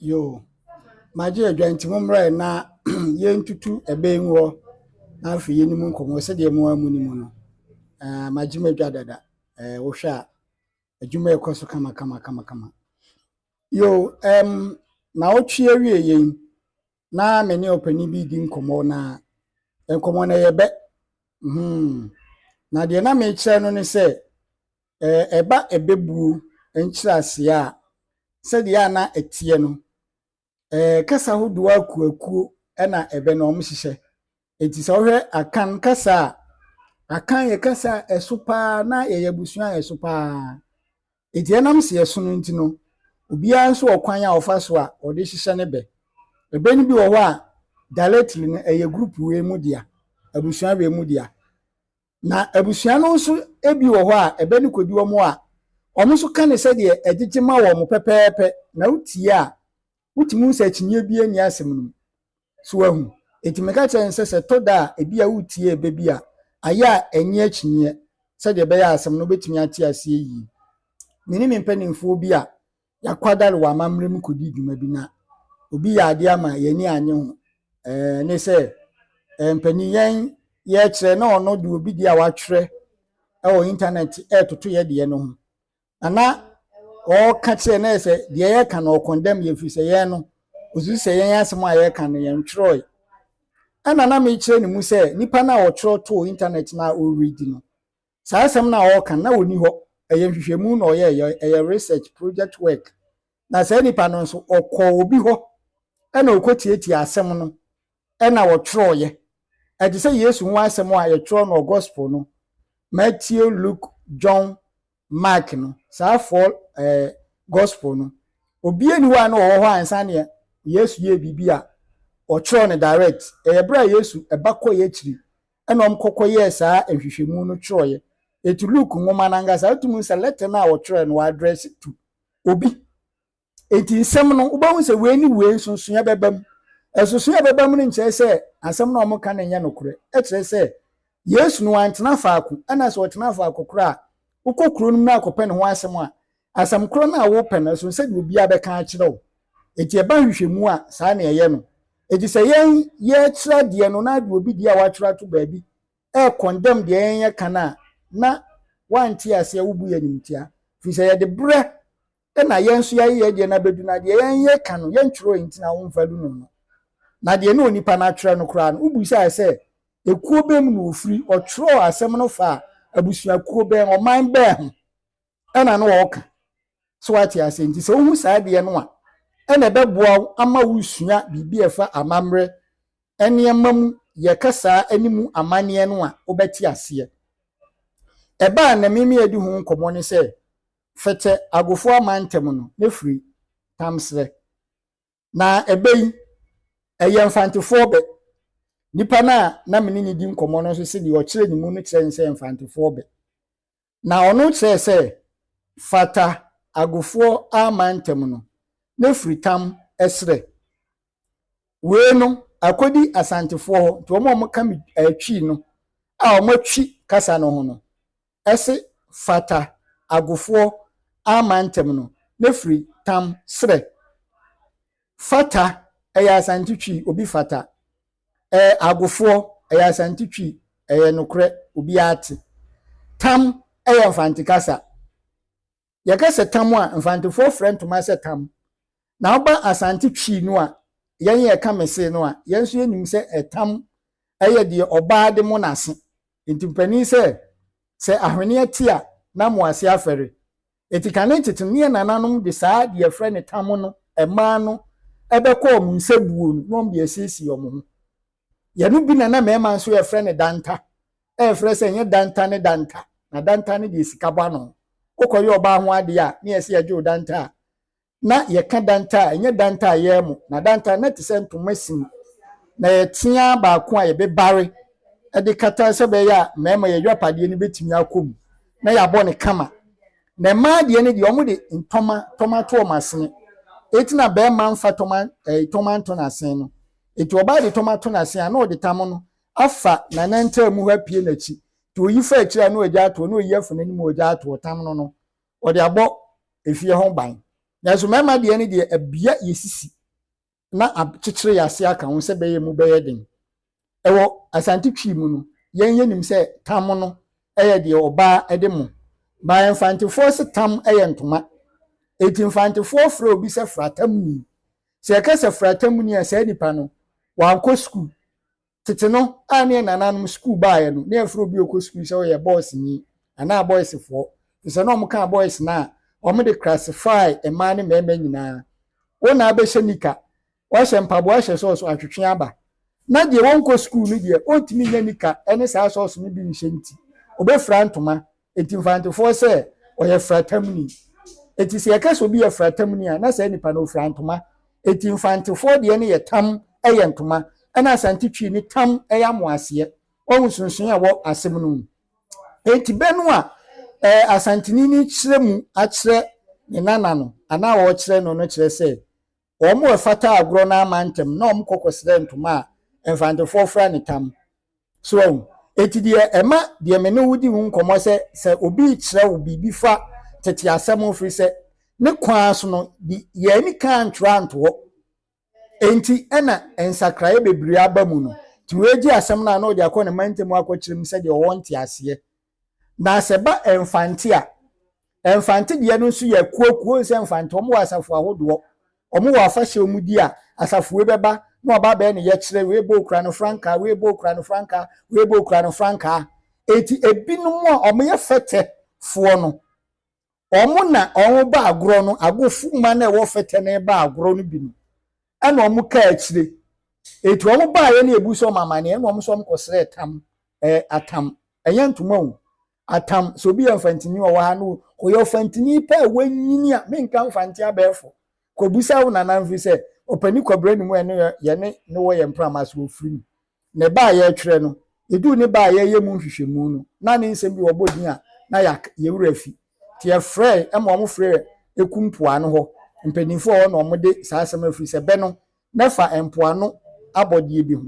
Yoo, magye adwa nti mommra ɛ na yɛntutu ɛbɛn mu hɔ na afei yɛne mu nkɔmmɔ sɛdeɛ mo ara monim no. Eh, magye m'adwa dada. Eh, wohwɛ a, adwuma ɛkɔ so kama kama kama kama. Yo, ɛm, na wotwe awie yɛn na me ne ɔpanin bi di nkɔmmɔ na nkɔmmɔ na yɛbɛ. Hmm. Na deɛ na mekyerɛ no ne sɛ, Ɛba abɛbuo nkyerɛaseɛ a, sɛdeɛ a na ɛteɛ no, kasa ahodoɔ akuakuo na ɛbɛ no wɔhyehyɛ. Nti sɛ wohwɛ Akan kasa a, Akan yɛ kasa a ɛso pa ara na yɛyɛ abusua a ɛso pa ara. Nti ɛnam sɛ yɛso no nti no, obiara nso wɔ kwan a ɔfa so a ɔde hyehyɛ ne bɛ. Ɛbɛ no bi wɔ hɔ a, directly no ɛyɛ group wei mu dea, abusua wei mu dea. Na abusua no nso bi wɔ hɔ a, ɛbɛ no kɔdi wɔn a, wɔn nso ka no sɛdeɛ ɛgyegye ma wɔn pɛpɛɛpɛ, na wotie a, wotumi hu sɛ akyinnyeɛ biara nni asɛm no mu. So wahu? Enti meka kyerɛ no sɛ, sɛ ɛtɔ da a, ebi a wotie ɛbɛ bi a, ayɛ a ɛnyɛ akyinnyeɛ, sɛdeɛ ɛbɛyɛ a asɛm no wobɛtumi ate aseɛ yie. Me ne me mpanimfoɔ bi a Yɛakwadare wɔ amammerɛ mu kɔdi dwuma bi na obi yɛ adeɛ ama yɛn ani annye ho. Ɛɛ, ne sɛ ɛɛ mpanin yɛn yɛrekyerɛ na ɔno de obi deɛ a watwerɛ wɔ intanɛt retoto yɛ deɛ no ho. Na na ɔreka kyerɛ na ɛsɛ deɛ yɛreka no ɔkɔndɛm yɛ firi sɛ yɛn no ɔsusu sɛ yɛn asɛm a yɛreka no yɛn twerɛe. Ɛna na mekyerɛ ne mu sɛ nipa no a ɔtwerɛ too intanɛt no a ɔredi no Saa asɛm no a ɔreka no, na ɔnni hɔ. Ɛyɛ nhwehwɛmu na ɔyɛeɛ, ɛyɛ research, project work. Na saa nipa no nso, ɔkɔɔ obi hɔ na ɔkɔtiatiaa asɛm no na ɔtwerɛeɛ. Ɛte sɛ Yesu ho asɛm a yɛtwerɛ no wɔ Gospel no, Matthew, Luke, John, Mark no, saa four eh, Gospel no. Obiara ni hɔ a na ɔwɔ hɔ ansa neɛ Yesu yɛɛ biribi a ɔtwerɛ no direct. Ɛyɛ berɛ a Yesu ɛba kɔeɛ akyiri ɛnna wɔkɔkɔyɛɛ saa nhwehwɛmu no twerɛeɛ. Enti Luke nwoma no ankasa, wotumi hu sɛ lɛtɛ no a wɔtwerɛeɛ no, wɔadrɛse to obi. Enti nsɛm no, wobɛhu sɛ wei ne wei, nsonsonoeɛ bɛba mu. Nsonsonoeɛ a ɛbɛba mu no nkyerɛ sɛ asɛm no a wɔka no nyɛ nokorɛ. Ɛkyerɛ sɛ Yesu no, wantena faako. Ɛnna sɛ ɔtena faako koraa a, wokɔ kuro no mu na akɔpɛ ne ho asɛm a, Asɛm korɔ no a wopɛ no, ɛsono sɛdeɛ obiara bɛka akyerɛ wo. Enti ɛba nhwehwɛmu a, saa na ɛyɛ no. Enti sɛ yɛn yɛrekyerɛ adeɛ no na ade obi deɛ a watwerɛ ato baabi rekɔndɛm deɛ yɛn yɛka no a, na wante aseɛ, wobu yɛn animtia. Firi sɛ yɛde berɛ na yɛn nso yɛayɛ yɛn deɛ no abɛdu na deɛ yɛn yɛka no, yɛntwerɛɛ enti na womfa du no no. Na deɛ na onipa no atwerɛ no koraa no, wobisaeɛ sɛ, Ekuo bɛn mu na ɔfiri? Ɔtwerɛɛ asɛm no faa abusuakuo bɛn, ɔman bɛn ho? ɛna na ɔreka. So woate aseɛ? Nti sɛ wohu saa adeɛ no a, ɛna ɛbɛboa wo ama wosua biribi a ɛfa amammerɛ nneɛma mu yɛ kasaa ne mu amanneɛ no a, wobɛte aseɛ. Ɛba a na Mimi adi ho nkɔmmɔ ne sɛ, Fɛtɛ Agofoɔ amantam no, na firi Tamserɛ. Na ɛbɛ yi, ɛyɛ Mfantefoɔ bɛ. Nipa no a na me ne no di nkɔmmɔ no nso se deɛ ɔkyerɛ ne mu no kyerɛ ne sɛ ɛyɛ Mfantefoɔ bɛ. Na ɔno kyerɛɛ sɛ fata agofoɔ aman ntam no ne firitam serɛ. Wei no akɔdi Asantefoɔ hɔ nti wɔn a wɔka me eh, Twi no a wɔatwi kasa no ho no se fata agofoɔ aman ntam no ne firitam serɛ. Fata ɛyɛ Asante Twi obi fata. Ɛɛ agofoɔ, ɛyɛ Asante Twi, ɛyɛ nokorɛ, obiara te. Tam yɛ Mfante kasa. Yɛka sɛ tam a, Mfantefoɔ frɛ ntoma sɛ tam. Na woba Asante Twi no a, yɛn yɛka mese no a, yɛn nso yɛnim sɛ ɛtam yɛ deɛ ɔbaa de mo n'ase. Nti mpanin sɛ, sɛ ahweneɛ te a, na mo ase afɛre. Enti kane nkyekye no, neɛ nananom de saa deɛ yɛfrɛ no tam no ɛmaa no bɛkɔ wɔn nsa buo no na wɔn de asiesie wɔn ho. Yɛno bi na na mmarima nso yɛfrɛ no danta. Ɛmfrɛ sɛ ɛnyɛ danta ne danta, na danta no deɛ sika bɔ ano. Wokɔyɛ ɔbaa ho adeɛ a, ne yɛse yɛgye wo danta a, Na yɛka danta a, ɛnyɛ danta a yɛn mo, na danta na ɛte sɛ ntoma sini, na yɛtea baako a yɛbɛbare de kata sɛ bɛyɛ a mmarima yɛ yɔpadeɛ no bɛtumi akɔ mu, na yɛabɔ no kama. Na mmaa deɛ no deɛ wɔn de ntɔma tɔma to wɔn asene, eti na barima nfa tɔma ɛɛ tɔma nto n'asene no, eti ɔbaa de tɔma to n'asene a na ɔde tam no afa n'anantamu hɔ apue n'akyi, ti oyi fa akyire a na ɔgya ato hɔ, na oyi afa n'anim a ɔgya ato hɔ, tam no no wɔde abɔ efie ho ban. Nanso mmarima deɛ no deɛ abia yɛ sisi na akyekyere yɛ ase aka ho sɛ bɛyɛ emu bɛyɛ den. Ɛwɔ Asante Twi mu no, yɛn yɛnim sɛ tam no yɛ deɛ ɔbaa de mo. Baeɛ Mfantefoɔ se tam yɛ ntoma. Enti Mfantefoɔ frɛ obi sɛ fratamuni. Sɛ yɛka sɛ fratamuni a saa nipa no, wankɔ sukuu. Tete no, a ne yɛn nananom sukuu baeɛ no, ne yɛfrɛ obi a ɔkɔ sukuu sɛ ɔyɛ bɔɔseni anaa bɔɔsefoɔ, ɛfiri sɛ na wɔkaa bɔɔs no a wɔde krasifae mmaa ne mmarima nyinaa. Wo na abɛhyɛ nika, wahyɛ mpaboa ahyɛ sɔɔso atwetwe aba. Ná deɛ ɔnkɔ sukuu no deɛ, ɔntumi nnya nika ne saa sɔɔso no bi nhyɛ nti, ɔbɛfira ntoma Enti Mfantefoɔ sɛ ɔyɛ fratamuni. Enti sɛ yɛka sɛ obi yɛ fratamuni a, na saa nipa no ofira ntoma. Enti Mfantefoɔ deɛ no yɛ tam yɛ ntoma, ɛna Asante Twi no tam yɛ amoaseɛ. Wahu nsonsonoeɛ a ɛwɔ asɛm no mu. Enti bɛ no a ɛɛ Asanteni no rekyerɛ mu akyerɛ ne nana no anaa ɔrekyerɛ no no kyerɛ sɛ Wɔfata agorɔ no ama ntɛm na wɔkɔ kɔsrɛ ntoma a Mfantefoɔ fra no tam. So woahu? Enti deɛ ɛma deɛ me ne wo di ho nkɔmmɔ sɛ sɛ obi rekyerɛ wo biribi fa tete asɛm ho firi sɛ ne kwan so no de yɛn ani ka antwerɛ anto hɔ enti ɛna nsakraeɛ bebree aba mu no. Nti wei gye asɛm no a na ɔde akɔ ne mantam akɔkyerɛ mu sɛdeɛ ɔwɔ nteaseɛ Na sɛ ɛba mfante a, mfante deɛ no nso yɛ akuakuo nsɛ mfante. Wɔn wɔ asafo ahodoɔ. Wɔn wɔ afahyɛ a wɔn di a asafo wei bɛba na ɔba abɛyɛ ne yɛkyerɛ wei bɔ okura no frankaa wei bɔ okura no frankaa wei bɔ okura no frankaa. Eti ebinom a wɔyɛ fɛtɛfoɔ no Wɔn na wɔn ba agorɔ no, agofo mma no a ɛwɔ fɛtɛ no ba agorɔ no bi no, ɛna wɔn kaa akyire. Eti wɔn baeɛ no ebu sɛ wɔn amaneɛ, ɛna wɔn sɛ wɔn kɔsrɛ tam, ɛɛ atam, ɛnyɛ ntoma o, atam, sɛ obi yɛ mfantini ɔwɔ ha no, ɔyɛ ɔfantini pɛ a wanyini a, menka mfante abɛɛfo, kɔbisa wo nana mfiri sɛ, ɔpani kɔbrɛ ne mu a ɛne yɛne ne wɔ yɛn mprama so, ɔfiri mu. ne ba a yɛretwerɛ no, yɛduu ne ba a yɛreyɛ mu nhwehwɛmu no, na ne nsɛm bi wɔbɔ din a, na yɛak, yɛn werɛ afi. Nti yɛfrɛe ma wɔfrɛɛ Eku mpoano hɔ mpanimfoɔ a wɔne wɔn de saa asɛm no afiri sɛ bɛ no, na ɛfa mpoano abɔdeɛ bi ho.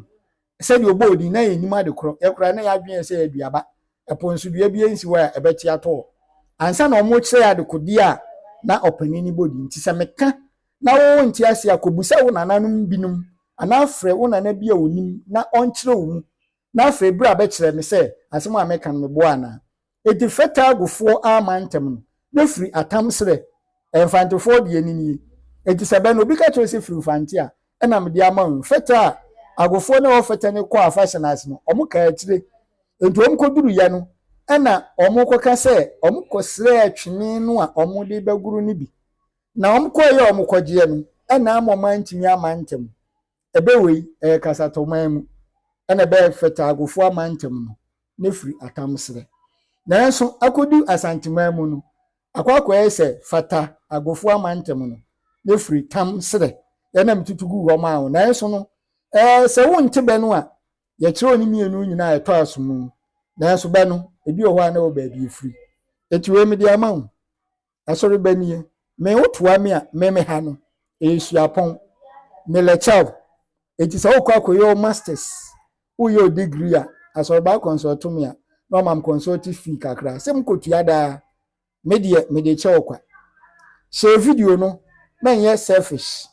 Sɛdeɛ ɔbɔɔ din, na yɛnnim ade korɔ. Yɛn koraa, na yɛn adwene yɛ sɛ ɛyɛ duaba. Ɛpo nso, dua biara nsi hɔ a ɛbɛte atɔ hɔ. Ansa na wɔrekyerɛ yɛn adekodeɛ a na ɔpanin no bɔ din nti, sɛ meka. na wowɔ ntease a, kɔbisa wo nananom binom anaa frɛ wo nana bi a ɔnim na ɔnkyerɛ wo mu na afei bra bɛkyerɛ me sɛ asɛm a meka no meboa anaa. Enti frɛ Tagofoɔ ara ma ntɛm no na firi atam serɛ. Ɛyɛ Mfantefoɔ deɛ ɛne nie. Enti sɛ bɛn na obi ka kyerɛ wo sɛ firi Mfante a ɛna mede ama wo yi, Fɛtɛ a Agofoɔ ne ɛhɔ Fɛtɛ no kɔɔ afahyɛ no ase no, wɔn kaa akyire. Enti wɔn kɔduru yɛ no ɛna wɔn kɔka sɛ wɔn kɔsrɛɛ twene no a wɔn de bɛgoro no bi. Na wɔkɔeɛ a wɔkɔgyeɛ no, ɛna ama wɔn antumi ama ntɛm. Ɛbɛ wei, ɛyɛ Kasatɔman mu, ɛna ɛbɛ Fatagofoɔ amantam no, na ɛfiri Atamserɛ. Nanso, akɔdu Asanteman mu no, akɔ akɔyɛ sɛ Fata agofoɔ amantam no, na ɛfiri Tam serɛ. Yɛ na metutu guu hɔ maa wo. Nanso no, ɛɛ, sɛ wonte bɛ no a, yɛkyerɛ wo ne mmienu nyinaa a ɛtɔ aso mu. Nanso bɛ no, ebi wɔ hɔ a na ɛwɔ baabi ɛfiri. Enti wei mede ama wo. Asɔreba nie, me wo toa me a me me ha no ɛyɛ suapɔn, me le kyɛw. Enti sɛ wokɔ akɔyɛ wo masters, woyɛ wo degree a, asɔreba consult me a na ɔma me consult fee kakra sɛ me kɔtua daa. Me deɛ me de kyɛ wo kwa. Share video no na nyɛ selfish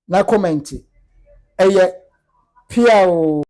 na comment ɛyɛ pia oo.